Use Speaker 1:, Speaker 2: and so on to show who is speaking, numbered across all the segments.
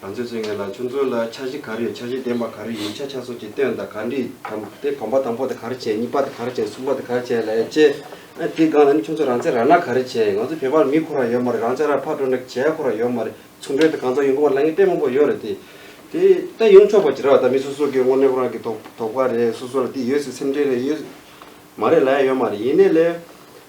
Speaker 1: ང་ཚོས་ཚོད་ངེས་ལ་ཆུ་མཛོད་ལ་འཆར་གཞི་ག་རེ་འཆར་གཞི་ལྡན་པ་ག་རེ་ཡིན་ཆ་ཆ་སོགས་ཀྱི་སྟོན་དང་ག་འདྲི་དམ་དེ་བམ་པ་དང་པོ་དེ་ག་རེ་བྱས་གཉིས་པ་དེ་ག་རེ་བྱས་གསུམ་པ་དེ་ག་རེ་བྱས་ལ་ཡང་དཔྱད། ཨ་དེའི་སྒང་ལ་ནི་ཁྱོད་ཚོ་རང་བཙན་རག་ན་ག་རེ་བྱས་ང་ཚོ་བོད་པར་མི་ཁོ་རང་ཡོད་མ་རེད་རང་བཙན་རག་ཕར་འགྲོ་ན་གྱི་བྱས་ཁོ་རང་ཡོད་མ་རེད་ཚུར་འགྲོས་དེ་གང་ཙམ་ཡོང་གི་མ་རེད་ལ་ངའི་དཔེ་མང་པོ་ཡོད་རེད་དེ། དེ་ད་ཡོང་ཆོག་པ་ཅི་ར་བ་ད་མི་སོ་སོ་གི་དངོས་གནས་ཁོ་རང་གི་དོག་དོག་པ་རེད་སོ་སོ་ལ་དེ་ཡོད་སྲིད་སེམས་ཁྲལ་རེད་ཡོད་མ་རེད་ལ་ཡང་ཡོད་མ་རེད་ཡིན་ནའི་ལས།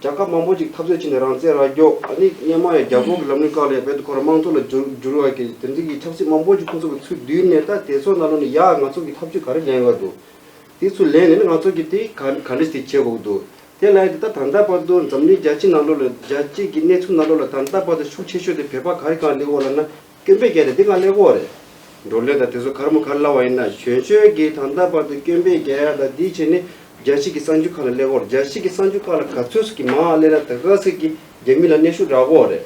Speaker 1: རྒྱལ་ཁབ་མང་པོ་ཅིག་འཐབ་རྩོད་བྱས་ནས་རང་བཙན་རང་སྐྱོང་ཨ་ནི་མཉམ་དམངས་ཡང་རྒྱ་གོར་གྱི་ལམ་ལུགས་བཀག་ལས་རྦད་དུ་ཁོ་རང་དམངས་གཙོ་ལ་བསྒྱུར་བསྒྱུར་བར་གྱིས་དེ་འཛིན་གྱི་ཆབ་སྲིད་མང་པོ་ཅིག་ཁོ་ཚོ་གི་ཚུལ་བསྡུས་ནས་ད་དེ་ཚོ་ན་ལོ་ནས་ཡག་ང་ཚོ་གི་ཐབས་བྱུས་ག་རེ་ལེན་དགོས་འདུག་དེ་ཚུལ་ལེན་ནས་ནི་ང་ཚོ་གི་དེ་ག་ག་འདྲི་སྟེ་བྱེད་དགོས་འདུག་དེ་བླ་ཡིན་ཏེ་ད་ད་ལྟ་བར་དུ་འཛམ་གླིང་རྒྱ་ཆེ་ན་ལོ་ལ་རྒྱ་བཅས་ཀྱི་གནས་ཚུལ་ན་ལོ་ལ་ད་ད་བར་དུ་ཤུགས་ཆེ་ཤོས་དེ་བོད་པ་ག་རེ་གང་དེ་འོག་ལ་ན་སྐྱོན་འབེད་རྒྱལ་ཏེ་འདི་གང་གླེགས་བོགས་རེད། འགྲོ་བློས་དང་དེ་ཚོ་གར་མ་གར་སླ་བ་ཡིན་ན་གཞོན་ཆོས་ཀྱིས་ད་ལྟ་བར་དུ་སྐྱོན་འབེད་རྒྱལ་ཡག་དང་འདི་བྱས་ནས་རྒྱལ་སྤྱི་གི་གསང་རྒྱུ་ཁ་ལ་གླེགས་བོར་རྒྱལ་སྤྱི་གི་གསང་རྒྱུ་ཁ་ལ་ག་ཚོད་ཀྱིས་མང་གླེགས་ན་ད་ག་ཚོད་ཀྱིས་རྒྱལ་མི་ལ་གནས་ཤུགས་རག་བོགས་རེད།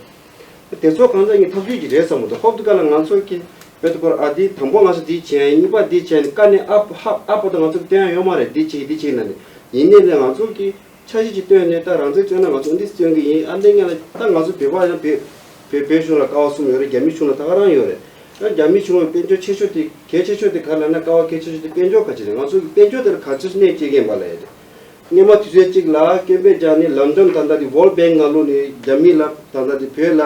Speaker 1: དེ་ཚོ་གང་ཟག་གཉིས་ཐག་གཅོད་ཀྱི་རེད་བསམ་མོ་འདུག་ཧོབ་ཏུ་ག་ལ་ང་ཚོ་གི་བོད་དུ་སྐོར་ཨ་འདི་དང་པོ་ང་ཚོ་འདི་བྱས་གཉིས་པ་འདི་བྱས་ནས་ཀ་ནས་ཨ་ཧབ་ཨ་ཕོ་ད་ང་ཚོ་ལ་དོན་ཡང་ཡོད་མ་རེད་འདི་བྱས་འདི་བྱས་ཡིན་ན་ནི་ཡིན་ནས་ལས་ང་ཚོ་གི། ཆ་བྱད་ཅིག་བཏོན་ནས་ད་རང་ཚོའི་བསྐྱོན་ན་ང་ཚོ་འདི་བསྐྱོན་གྱི་ཡིན་ཨ་ལས་ངན་ལ་ད་ང་ཚོ་བོད་པ་ཡང་བོད་བོད་བོད་གཞུང་ལ་ཀ་བ་གསུམ་ཡོད་རེད་རྒྱ་མི་ཆུང་ན་ད་ག་རང་ཡོད་རེད་ཡང་རྒྱ་མི་ཆུང་བའི་དཔལ་འབྱོར་ཆེ་ཤོས་དེ་གལ་ཆེ་ཤོས་དེ་ག་ལ་ན་ཀ་བ་གལ་ཆེ་ཤོས་དེ་དཔལ་འབྱོར་ག་ཅི་རེད་ང་ཚོ་གི་དཔལ་འབྱོར་དེ་ལ་ག་ཅིར་གནས་བཅས་ཀྱིན་པ་ལས་རེད་སྙེ་མ་དུས་ཚོད་ཅིག་ལ་བསྐྱོན་པས་ཀྱང་ནི་ལམ་འགྲམ་ད་ལྟ་དེ World Bank ང་ལོ་ནི་རྒྱ་མི་ལ་ད་ལྟ་དེ་བོད་ལ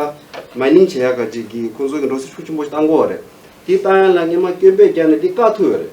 Speaker 1: Mining བྱེད་ཡ་ག་ཅིག་གིས་ཁོང་ཚོ་གི་འགྲོ་སྲིད་ཤུགས་ཆེན་པོ་ཞིག་བཏང་གོ་རེད་དེ་བཏང་ཡ་ལ་སྙེ་མ་བསྐྱོན་པས་ཀྱང་ནི་དེ་བཀག་ཐུབ་ཡོད་རེད།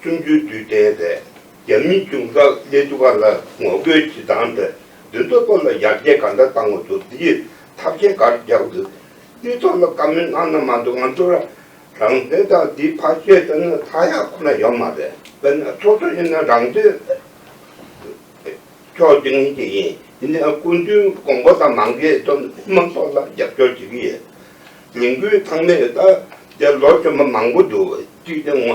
Speaker 2: གསུམ་བཅུའི་དུས་དྲན་ཐད་རྒྱ་མིའི་གཅུང་ས་ལེ་ཏུ་ཀཱ་ལ་ངོ་རྒོལ་གྱི་སྒང་དུ་དུས་ཐོག་ཏུ་ལ་ཡར་རྒྱས་ག་འདྲ་བཏང་འོ་དོ་དེའི་ཐབས་ཇེ་དཀར་རྒྱག་འདུག་དུས་ཐོག་ལ་བཀའ་མོལ་གནང་ན་མ་འདུག་ང་ཚོ་རང་བཙན་དང་དེའི་ཕ་ཆོས་ལྟ་ན་ཐ་ཡག་ཁོ་ན་ཡོད་མ་རེད་དཔེར་ན་ཚོགས་གཙོ་ཡིན་ན་རང་དོན་ཕྱོགས་བསྒྲིགས་ངེས་ཀྱི་ཡིན་དེ་ནས་སྐུ་མདུན་དགོངས་པ་དང་མང་གི་དོན་དམངས་ཚོགས་ལ་རྒྱབ་སྐྱོར་བྱེད་ཀྱི་ཡོད་ལས་འགུལ་ཚང་མས་ད་ལོ་བྱོན་པ་མང་པོ་འདུག་གཅིག་དེ་ངོ་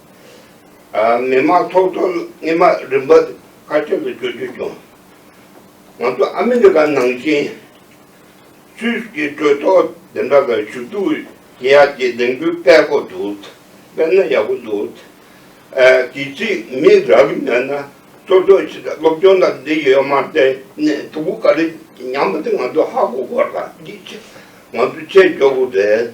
Speaker 2: མི་དམངས་ཚོགས་གཙོ་རྣི་མ་རིམ་པ་བཀའ་ཁྲི་ལ་བསྐྱོད་རྒྱུ་བྱུང། ང་ཚོ་ཨ་མི་རི་ཀ་ནང་བཞིན་སུད་ཀྱི་གྲོས་ཚོགས་འདི་འདྲ་ལ་ཞུ་གཏུག་བྱེད་ཡ་དེ་ལས་འགུལ་སྤེལ་དགོས་འདུག་སྤེལ་ན་ཡག་པོ་འདུག་དུས་ཚིགས་མི་རག་གི་མེད་ན་གཙོ་གཙོ་ཆེ་ས་སློབ་སྦྱོང་དང་འདི་ཡོད་མ་རེད་ནས་དུ་བུ་ག་རེ་ཉམས་པ་དེ་ང་ཚོ་ཧ་གོ་དགོས་ར་འདི་ང་ཚོ་བྱེད་འཇོག་གི་རེད་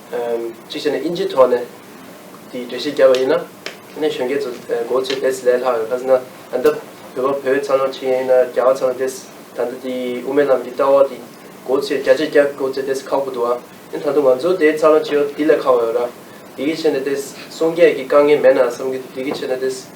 Speaker 3: གཅིག་བྱས་ནས་དབྱིན་ཇིའི་ཐོག་ནས་དེའི་འགྲེལ་བཤད་རྒྱབ་པ་ཡིན་ན། ཁྱེད་ནས་གཞོན་སྐྱེས་ཚོ་མགོ་ཚོས་བེད་སྤྱད་ལྷག་ཡོད་ཁ་ཟེར་ན། ད་ལྟ་བོད་པ་བོད་ཚང་ནང་ཆེ་ཡན་ཡིན་ན་རྒྱ་བ་ཚང་བདེ་ད་ལྟ་དེའི་དབུ་མའི་ལམ་གྱི་ལྟ་བ་དེ་མགོ་ཚོས་རྒྱ་ཆེ་རྒྱ་མགོ་ཚོས་བདེ་ཁག་པོ་འདུག་ཨ། ཡིན་ད་དུང་ང་ཚོ་དེའི་ཚང་ནང་ཆེ་ཡོད་དེ་ལས་ཁག་པོ་ཡོད་ར། དེ་གི་ཆེ་ནས་བདེ་སངས་རྒྱས་ཀྱི་བཀའ་ངལ་མེད་ན་བསམ་གི་འདུག་དེ་གི་ཆེ་ནས་བདེ།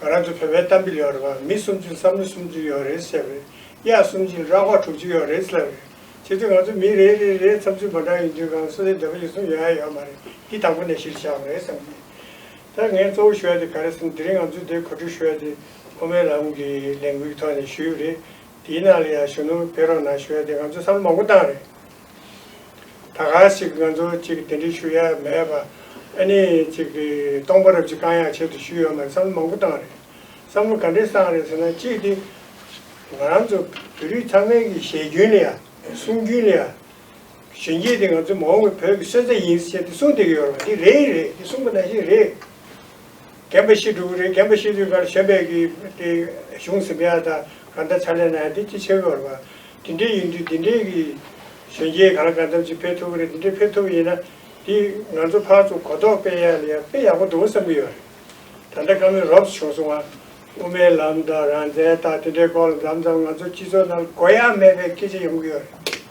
Speaker 4: ང་རང་ཚོ་བོད་པའི་གཏམ་དཔེ་ལས་ཨོ་རེད་པ་མི་སུམ་ཅུ་བསམ་བློ་སུམ་ཅུ་ཡོད་རེད་བཤད་པས་གཡག་གསུམ་གྱིས་ར་བ་དྲུག་ཅུ་ཡོད་རེད་ལབ་རེད་བྱེད་དུས་ང་ཚོ་མི་རེ་རེ་རེའི་བསམ་ཚུལ་མ་འདྲ་ཡིན་དུས་གང་སུ་ལའི་འདོད་པ་ཡོད་གསུང་ཡོད་ཡ་ཡོད་མ་རེད་འདི་དང་པོ་ནས་གཞིར་བཞག་པ་རེད་བསམ་གི་ད་ངས་གཙོ་བོ་ཞུ་ཡ་དེ་ག་རེད་བསམ་དེ་རིང་ང་ཚོས་དེ་གོ་སྒྲིག་ཞུ་ཡ་དེ་ཨོ་མའི་ལམ་གྱི་ལས་འགུལ་གྱི་ཐོག་ནས་ཞུས་རེད་དེའི་ནང་
Speaker 5: ལ་ཡང་གཞོན་ནུ་བེ་རོ་ན་ཞུ་ཡ་དེ་ང་ཚོས་བསམ་བློ་མང་པོ་བཏང་རེད། ད་ག་ཞིག་ང་ཚོ་ཅིག་དེ་འདྲས་ཞུ་ཡ་མེད་པ་ཨ་ནི་ཅིག་གི་སྟོང་པ་རབ་ཅིག་བསྐང་ཡག་བྱེད་དུ་ཞུ་ཡོད་མ་རེད་བསམ་བློ་མང་པོ་བཏང་རེད་བསམ་བློ་ག་འདྲས་བཏང་རེད་ཟེར་ན་གཅིག་སྟེ་ང་རང་ཚོ་བོད་རིགས་ཚང་མའི་གི་བཞེད་རྒྱུན་ལ་ཡ་གསུང་རྒྱུན་ལ་ཡ་གཞོན་སྐྱེས་དེ་ང་ཚོ་མ་འོངས་པའི་བོད་ཀྱི་སོན་རྩ་ཡིན་ཟེར་ཏེ་གསུང་སྡོད་ཀྱི་ཡོད་རེད་པ་འདི་རེད་རེད་འདི་གསུང་པ་ན་བཞིན་རེད། རྒན་པོ་ཤི་དྲུག་རེད་རྒན་པོ་ཤི་དྲུག་གར་ཤ་འབད་ཀྱི་དེ་གཞུང་ཟིན་པའི་ཨ་ད་ག་ད་ཚ་ལས་ནའི་དེ་ཅི་ཆེ་གི་བར་བ། དེ་འདྲས་ཡིན་དུས་དེ་འདྲས་ཀྱི་གཞོན་སྐྱེས་གང་གང་ཐམས་ཅད་ཕེབས་ཐུབ་ཀི་རེད་དེ་འདྲས་ཕེབས་ཐུབ་ཡིན་ན་དེ་ང་ཚོ་ཕར་ཚུར་གོ་རྟོགས་སྤེལ་ཡག་ལ་ཡག་དཔེ་ཡག་པོ་འདུག་བསམ་གི་ཡོད་རེད། ད་ལྟ་བཀའ་མོལ་རོབས་བྱུང་སོང་ང། དབུ་མའི་ལམ་དང་རང་བཙན་དང་དེ་འདྲའི་སྐོར་ལ་འཛམ་ཙམ་ང་ཚོ་སྤྱི་ཚོགས་ནང་གོ་ཡ་མེད་པའི་སྐད་ཆ་ཡོང་གི་ཡོད་རེད།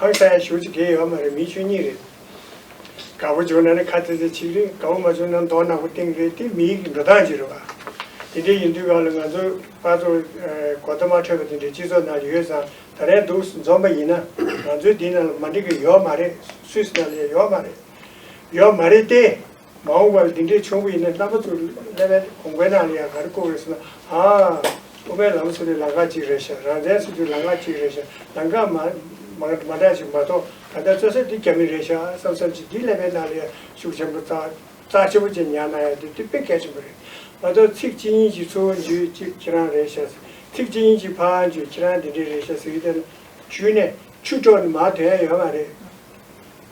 Speaker 5: ཧང་སང་ཡ་ཞུགས་ཅིག་དགེ་ཡོད་མ་རེད་མི་ཆོས་ཉིད་རེད། དགའ་པོ་བྱུང་ན་ནི་ཁ་ཚེ་ཚེ་ཆིག་རེད་དགའ་པོ་མ་བྱུང་ན་མདོག་ནག་པོ་སྟེང་རེད་དེ་མི་ཡིག་གི་འགྲོ་སྟངས་ཅིག་རེད་བ། དེ་འདྲའི་ཡིན་དུས་གང་ལ་ང་ཚོ་དཔའ་ཚོ་གོ་བརྡ་མ་འཕྲོད་པ་དེ་འདྲའི་སྤྱི་ཚོགས་ནང་ཡོད་ཙང་ད་རེས་འདུག་འཛོམས་པ་ཡིན་ན་ང་ཚོའི་འདི་ནང་ལ་མ་འགྲིག་གི་ཡོད་མ་རེད་སུས་ནང་ལ་ཡོད་མ་རེད་ཡོད་མ་རེད་ཏེ། མ་འོངས་པར་འདི་འདྲའི་ཆོ་ག་ཡིན་ན་རྣམ་པ་ཚོ་ཀླད་པའི་གོང་པའི་ནང་ལ་ཡང་ག་རེ་བཀོག་རེད་ཟེར་ན། ཨ། དབུ་མའི་ལམ་སོགས་ནི་ལམ་ཁ་ཅིག་རེད་ཤག་རང་བཙན་སོགས་ཀྱང་ལམ་ཁ་ཅིག་རེད་ཤག་ལམ་ཁ་མ་མ་འདྲ་ཞིག་མ་གཏོགས་ད་ལྟ་རྩོད་ས་འདི་རྒྱ་མི་རེད་ཤག་བསམ་བསམ་ཅིག་འདིའི་ཀླད་པའི་ནང་ལ་ཡང་ཤུགས་ཆེན་པོ་རྩ་ཆེན་པོ་ཅིག་ཉར་ན་ཡང་འདི་དེ་དཔེ་གལ་ཆེན་པོ་རེད་མ་གཏོགས་ཚིག་གཅིག་གཉིས་ཀྱིས་ཚུར་འཇུས་ཅིག་ཁྱེད་རང་རེད་ཤག་ཚིག་གཅིག་གཉིས་ཀྱིས་ཕར་འཇུས་ཁྱེད་རང་འདི་འདྲས་རེད་ཤག་ཟེར་གྱི་བསྡད་ན། ཆུ་ནས་ཆུ་གྲོགས་ནི་མར་དོན་ཡོད་མ་རེད།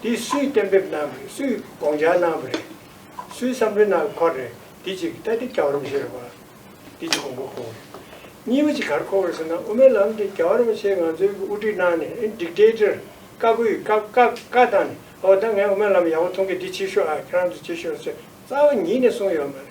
Speaker 5: འདི་སུས་གཏན་འབེབས་གནང་བ་རེད་སུས་དགོངས་འཆར་གནང་བ་རེད། སུའི་བསམ་ཚུལ་གནང་བའི་སྐོར་རེད་འདི་གཅིག་ལྟ་དེ་རྒྱ་གར་མི་ཤེས་རེད་པ། འདི་གཅིག་གོང་བུར་གོ། གཉིས་པ་གཅིག་གར་གོ་བ་རེད་ཟེར་ན་དབུ་མའི་ལམ་དེ་རྒྱ་གར་མི་ཆེ་ང་ཚོའི་དབུ་ཁྲིད་གནང་ནས་ཨེ Dictator བཀའ་བསྒོས་ཡོད་བཀའ་བཀའ་བཀའ་བཏང་ནས་ཨོ་ད་ངས་དབུ་མའི་ལམ་ཡག་པོ་མཐོང་གི་འདི་བྱེད་ཤོག་ཨ་ཁྱེད་རང་ཚོ་བྱེད་ཤོག་ཟེར་རྩ་བ་ཉིད་ནས་གསུངས་ཡོད་མ་རེད།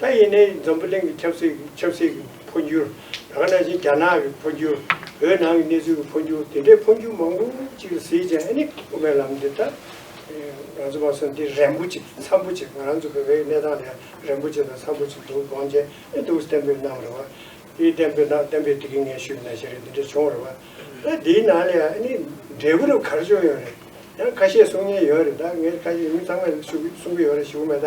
Speaker 5: ད་ཡིན་ནའི་འཛམ་བུ་གླིང་གི་ཁྱབ་སྲིད་ཆབ་སྲིད་ཀྱི་འཕོ་འགྱུར། ད་ནའི་བཞིན་རྒྱ་ནག་གི་འཕོ་འགྱུར། བོད་ནང་གི་གནས་ཚུལ་གྱི་འཕོ་འགྱུར་དེ་འདྲའི་འཕོ་འགྱུར་མང་པོ་ཅིག་ལ་གཟིགས་ཀྱང་ཨེ་ནི་དབུ་མའི་ལམ་འདི་ལྟར། ང་ཚོ་བ་སོ་འདི་རན་པོ་ཆེ་འཚམ་པོ་ཆེ་ང་རང་ཚོ་བོད་པའི་གནས་སྟངས་དེ་རན་པོ་ཆེ་དང་འཚམ་པོ་ཆེ་འདུག་དགོངས་བཅད་ཨེ་འདུག་གཏན་འབེབས་གནང་བ་རེད་བ། དེ་གཏན་འབེབས་གནང་གཏན་འབེབས་དེ་གིས་ངན་ཤུགས་ཡིན་ན་ཞེས་རེད་འདི་འདྲ་བྱུང་བ་རེད་བ། ད་འདིའི་ནང་ལ་ཡང་ཨེ་ནི་འབྲས་བུ་རུ་གར་བྱུང་ཡོད་རེད། ཡང་ཁ་ཤས་གསུང་ཉེན་ཡོད་རེད་ད་ངས་ཁ་ཤས་མི་ཚང་མས་ཞུ་གི་གསུང་གི་ཡོད་རེད་ཞུ་གི་མེད་ད་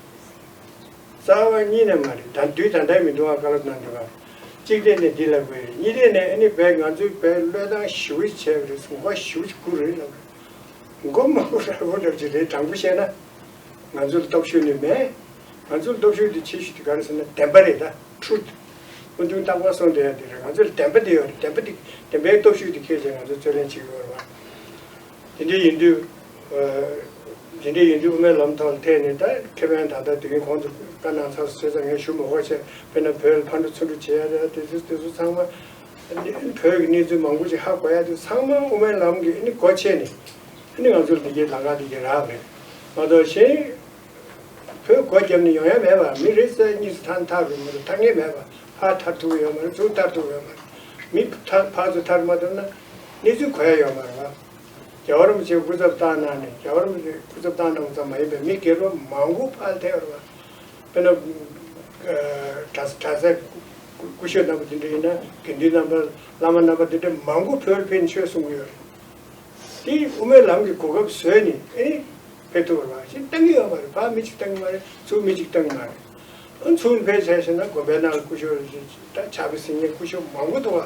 Speaker 5: རྩ་བ་གཉིས་ནས་མ་རེད་ད་དུས་ད་ལྟའི་མི་འདུག་ཨ་ཀ་ལབ་གནང་འདུག་ཨ། གཅིག་རེད་ནས་འདི་ལབ་དགོས་རེད་གཉིས་རེད་ནས་ཨ་ནི་བས་ང་ཚོའི་བས་བློས་བཏང་བཞི་བོ་བྱས་པ་རེད་སོང་བ་བཞི་བོ་དགུ་རེད་ལབ་རེད། མགོ་མང་པོ་ར་བོ་ལབ་ཅིག་རེད་དྲང་པོ་བཤད་ན། ང་ཚོ་ལ་སྟོབས་ཤུགས་ནི་མེད། ང་ཚོ་ལ་སྟོབས་ཤུགས་དེ་ཆེ་ཤོས་དེ་ག་རེད་ཟེར་ན་བདེན་པ་རེད་ད truth། སྨོན་འདུན་རྟག་པར་སོང་འདི་ཡང་འདི་རེད་ང་ཚོ་ལ་བདེན་པ་དེ་ཡོད་རེད་བདེན་པ་དེ་བདེན་པའི་སྟོབས་ཤུགས་དེ་ཁྱེད་ཅག་ང་ཚོ་རྩོད་ལེན་བྱེད་ཀྱི་ཡོད་རེད་བ། དེ་འདྲ་ཡིན་དུས། དེ་འདྲ་ཡིན་དུས་དབུ་མའི་ལམ་དང་འཐད་ནས་ད་ཁེ་ཕན་ད་ལྟ་དུས་ཡུན་གོང་དུ་བཀའ་གནང་ཚར་ཟོས་ཙང་ངས་ཞུ་མི་ཤོག་བྱས་དཔེར་ན་བོད་ཕར་འགྲོ་ཚུར་འགྲོ་བྱེད་ཡ་རེད་དེ་ཚོ་དེ་ཚོ་ཚང་མ། བོད་ཀྱི་གནས་ཚུལ་མང་པོ་ཞིག་ཧ་གོ་ཡ་དུས་ཚང་མ་དབུ་མའི་ལམ་གྱི་ཨི་ནི་གོ་ཕྱེས་ནས། ཨི་ནི་ང་ཚོར་འདི་གྱིས་ལང་ཀ་འདི་གྱིས་རག་མེད། མ་གཏོགས་གཞན། བོད་སྒོ་རྒྱབ་ནས་ཡོང་ཡ་མེད་པ་མི་རེ་གསལ་གཉིས་སུ་ཐར་མཐའ་རུ་མ་གཏོགས་ཐར་ངེས་མེད་པ་ཕར་ཐར་ཐུབ་ཀྱི་ཡོད་མ་རེད་ཚུར་ཐར་ཐུབ་ཀྱི་ཡོད་མ་རེད། མི་ཕར་ཚུར་ཐར་མ་ཐུབ་ན། གནས་ཚུལ་གོ་ཡ་ཡོད་མ་རེད། རྒྱ་གར་རིན་པོ་ཆེ་སྐུ་ཚབ་བཏང་གནང་ནས་རྒྱ་གར་རིན་པོ་ཆེ་སྐུ་ཚབ་བཏང་གནང་བ་ཙམ་མ་ཡིན་པའི་མི་སྒེར་པ་མང་པོ་ཕར་ཐེ་བར་མ། དཔེར་ན། གྲྭ་ས་གྲྭ་སའི་སྐུ་ཞབས་རྣམ་པ་དེ་འདྲ་ཡིན་ན་དགེ་འདུན་རྣམ་པ་བླ་མ་རྣམ་པ་དེ་འདྲ་མང་པོ་བོད་ཕན་ཆོས་གསུང་གི་ཡོད་རེད། དེ་དབུ་མའི་ལམ་གྱི་གོ་སྐབས་བཟོས་ནས་ཨེ་རེད། ཕེབས་ཐུབ་པར་མ་ཞིག་བཏང་གི་ཡོད་མ་རེད་ཕ་མི་གཅིག་བཏང་གི་མ་རེད་ཚུར་མི་གཅིག་བཏང་གི་མ་རེད། ཨ་ཚུར་ཕེབས་བྱས་ཤེ་ན་དགོན་པའི་ནང་ལ་སྐུ་ཞབས་ད་ཆ་གི་སིང་ངེ་སྐུ་ཞབས་མང་པོ་འདུག་ག